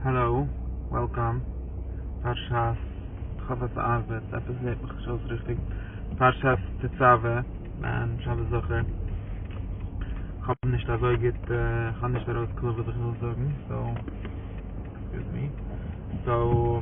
העלאו, וועלקאם, פרשת חוות הארבעט, עפעס הערט מיך נישט אויס ריכטיג, פרשת תצוה, ניין, שבת זכור, כ'האב נישט אזוי גוט, כ'האב נישט ארויס קלאר וואס איך וויל זאגן, סאו, עקסקיוז מי, סאו.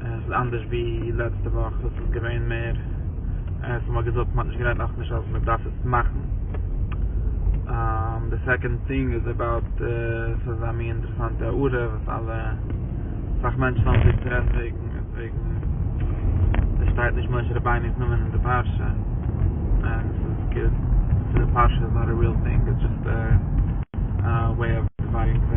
עס איז אנדערש ווי לעצטע וואך וואס איז געווען מער עס האט מען געזאגט מען האט נישט גערעדט נאכנישט אז מען דארף עס מאכן די סעקאנד טינג איז אבאוט עס איז א מין אינטערעסאנטע הערה וואס אלע אסאך מענטשן האבן זיך צו רעדן וועגן איז וועגן עס שטייט נישט משה רבינו'ס נאמען אין די פרשה און עס איז גוט צו די פרשה איז נאט א ריעל טינג איטס דזשאסט א וועי אוו דיוויידינג די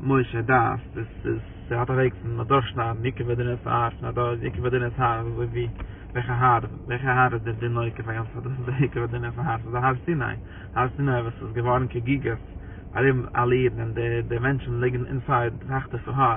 משה דאס דאס איז צו ווייט אוועק פון אדורכשניידן יקב הדינ'ס האר פון א דור, יקב הדינ'ס האר איז אזוי ווי וועלכע האר, וועלכע האר איז דער דין נוקב היות אז דאס איז דער יקב הדינ'ס האר, ס'איז דער האר סיני, האר סיני וואס איז געווארן כגיגות ארום אלע אידן און די מענטשן ליגן אינסייד סאך טיפע האר.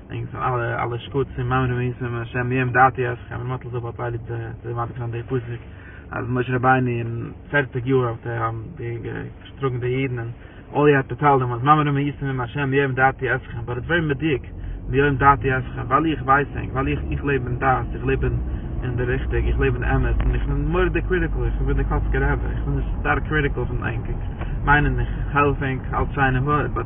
ענק זענען אלע אלע שקצים מאמינים ביסום השם ביהמ ד אתי אז כ'האב מאטל זאגט פארטיי ליב צו צו מעתיק זיין די פסוק אז משה רבינו אין פֿערציק יאר האט ער האבן די געשטראגן די אידן און אל י האט פארטיילט דעם אז מאמינים ביסום השם ביהמ ד אתי אז כ'בין באט ווערי מדויק ביהמ ד אתי אז כ ווייל איך ווייס ענק ווייל איך איך לעב אין דת איך לעב אין אין די ריכטיג איך לעב אין אמת און איך בין מורא'דיג קריטיקל איך בין די קאצקער עבר איך בין נישט סטארק קריטיקל פון ענק איך מיין און איך העלף ענק אלץ שיינע באט.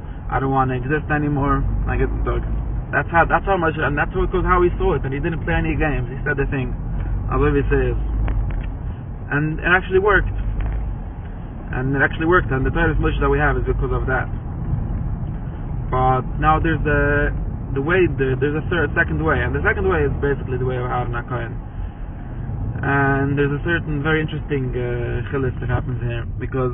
איי דאנט וואנט טו עקזיסט ענימאר, א גוטן טאג. דעטס האו דעטס האו מאטש ענד דעטס האו קאוז האו הי סא איט ענד הי דידנט פלעי עני געימס הי סעד די טינג אזוי ווי ס'איז ענד איט עקטשעלי ווארקט ענד איט עקטשעלי ווארקט ענד די תורת משה דעט ווי העוו איז ביקאוז אוו דעט באט נאו דערס די די וועי דערס א סערט סעקאנד וועי ענד די סעקאנד וועי איז בעסיקלי די וועי אוו אהרן הכהן ענד דערס א סערטען ווערי אינטערעסטינג חילוק וואס העפענס העיר ביקאוז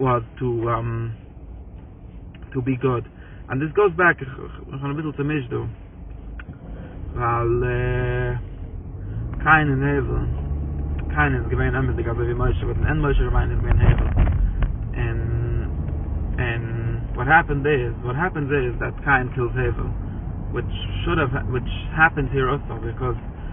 אויף טו טו בי גוד און דאס גאוס בעק איך בין אביסל צומישט דא ווייל קין און הבל קין איז געווען אמתדיג אזוי ווי משה באט אין ענד משה רבינו איז געווען הבל און און וואט העפענד איז וואט העפענס איז דעט קין קילס הבל וויטש שוד האוו וויטש העפענס העיר אלסא ביקאוז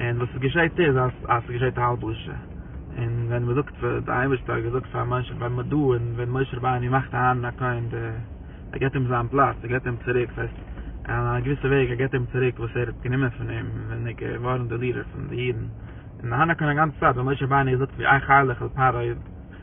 און וואס עס געשעהט איז אז עס געשעהט א הלבשה, און ווען מען זאגט פאר די אייבערשטער האט געזאגט פאר משה ווען מען דא און ווען משה רבינו מאכט אהרן הכהן די ער געבט אים זיין פלאץ ער געבט אים צוריק ס'הייסט אין א געוויסע וועג ער געבט אים צוריק וואס ער האט גענומען פון אים ווען ער געווארן די לידער פון די אידן און אהרן הכהן א גאנצע צייט ווען משה רבינו האט געזאגט ווי איך היילעך על פרעה.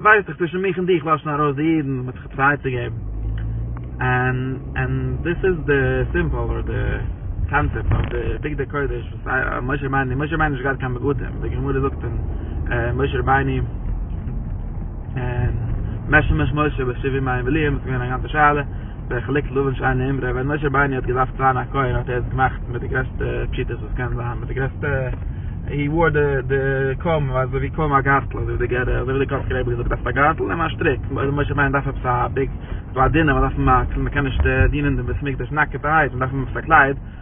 ווייס איך צווישן מיך און דיך לאשן ארויס די אידן וואס האט זיך צייט צו געבן און און דאס איז די סימבאל אדער די קאנצעפט אויף די בגדי קודש וואס משה רבינו משה רבינו איז נישט געהאט קיין בגדים ווי די גמרא זאגט אין משה רבינו און משמש משה בשבעים מים ולאיהם ס'איז געווען א גאנצע שאלה. בחלק לבן שאינו אמרי, ווען משה בייני האט געדארפט זיין א כהן האט ער עס געמאכט מיט די גרעסטע פשיטות וואס קען זיין, מיט די גרעסטע, הי וואר די די קאמב אזוי ווי קאמב א גארטל אזוי ווי די גערער אזוי ווי די קארפער רבי האט געזאגט דארפסט א גארטל נעם א שטריק, אויב משה בייני דארף עפעס א ביג, ס'איז דא א דינער מ'דארף אים א, מ'קען נישט דינען דעם בית מקדש נאקעטערהייט מ'דארף אים עפעס א קלייד,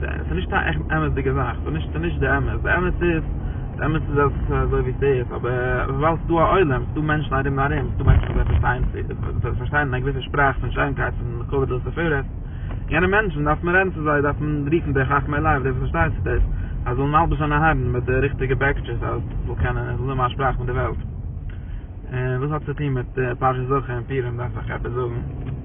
ס'איז נישט קיין עכט אמת'דיגע זאך, ס'איז נישט די אמת, די אמת איז, די אמת איז אז ס'איז אזוי ווי ס'איז, אבער וויבאלד ס'איז דא א עולם, ס'איז דא מענטשן ארום און ארום, ס'איז דא מענטשן וואס פארשטייען צו, וואס פארשטייען א געוויסע שפראך פון שיינקייט פון כבוד און תפארת, יענע מענטשן דארף מען רעדן צו זיי, דארף מען רופן די חכמי לב, די וואס פארשטייען צו דאס, אז זאלן מלבוש זיין אהרן מיט די ריכטיגע בעקיטשעס אז ס'זאל קענען, עס זאל זיין מיין שפראך מיט די וועלט. און וואס האט צו טון מיט פרשת זכור און פורים דארף איך עפעס זאגן?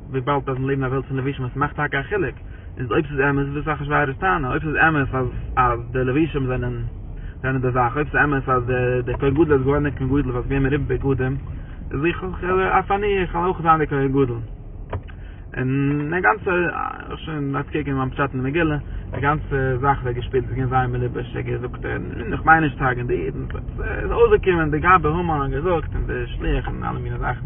וויבאלד אז מיר לעבן אין א וועלט פון לבישים עס מאכט טאקע א חילוק איז אויב ס'איז אמת וואס איז אחשורוש טענה אויב ס'איז אמת אז אז די לבישים זענען זענען די זאך אויב ס'איז אמת אז די די כהן גדול איז געווארן א כהן גדול ווייל ס'איז געווען מרובה בגדים איז איך אויך אני איך וועל אויך זיין די כהן גדול און די גאנצע שוין אנטקעגן מיין פשט אין די מגילה די גאנצע זאך ווערט געשפילט ס'איז געווען זייער מלובש ער געזאגט און איך מיין נישט צו הרג'ען די אידן ס'איז אויסגעקומען די גאבע המן האט געזאגט און די שליח און אלע מיני זאכן.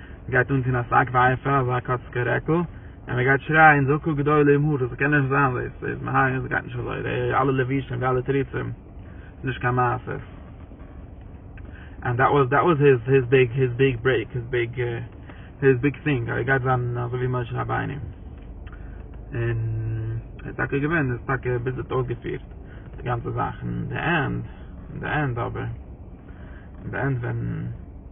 מ'גייט אנטון א שק ואפר, אזא קאצקע רעקל, און מ'גייט שרייען זעקו גדול עמו ה', ס'קען נישט זיין דאס, דאס איז מהר א, עס גייט נישט אזוי, די אלע לבושים, די אלע תירוצים, ס'איז נישט קיין מעשה. ענד דעט וואס דעט וואס היז היז ביג היז ביג ברעיק, היז ביג היז ביג טינג, אז ער גייט זיין אזוי ווי משה רבינו. און עס איז טאקע געווען, עס איז טאקע ביז יעצט אויסגעפירט, די גאנצע זאך, אין די ענד, אין די ענד אבער, אין די ענד ווען.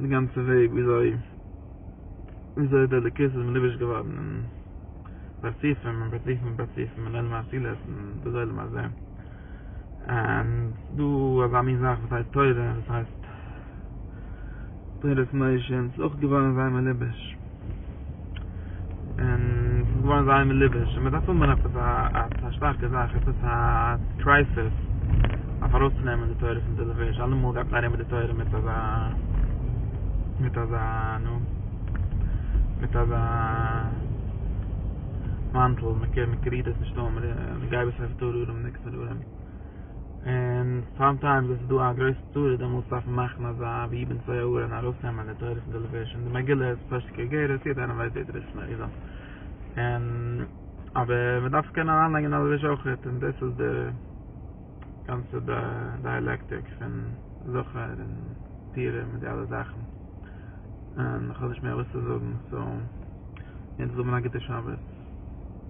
די גאנצע וועג וויאזוי וויאזוי די אלוקות איז מלובש געווארן אין פרצופים און פרצופים און פרצופים און עולם האצילות און דאס עולם הזה און דא אזא מין זאך וואס הייסט תורה וואס הייסט תורת משה און ס'איז אויך געווארן זיי מלובש. און ס'איז געווארן זייער מליבוש און מ'דארף האבן עפעס א א שטארקע זאך עפעס א קרייסיס אויף ארויסצונעמען די תורה פון די מליבוש אלעמאל גייט מען ארום מיט די תורה מיט אזא מיט אזא נו מיט אזא מאנטל מ'קריגט עס נישט אן מ'גייט עס אויף דרום און ניקס ארום און סאם טיימס ווען ס'איז דא א גרויסע צרה דעמאלטס דארף מען מאכן אזא ווי אבן סעיאהורא און ארויסנעמען די תורה פון די לבוש און די מגילה איז פשוט כגרות יעדע איינער ווייסט ווער דער ראשון אריז א און אבער מען דארף קענען אריינלייגען א לבוש אויכעט און דאס איז די גאנצע דייעלעקטיק פון זכר און פירה מיט די אלע זאכן און איך האב נישט מער וואס צו זאגן סאו יענץ זאל מען א גוטע שבת.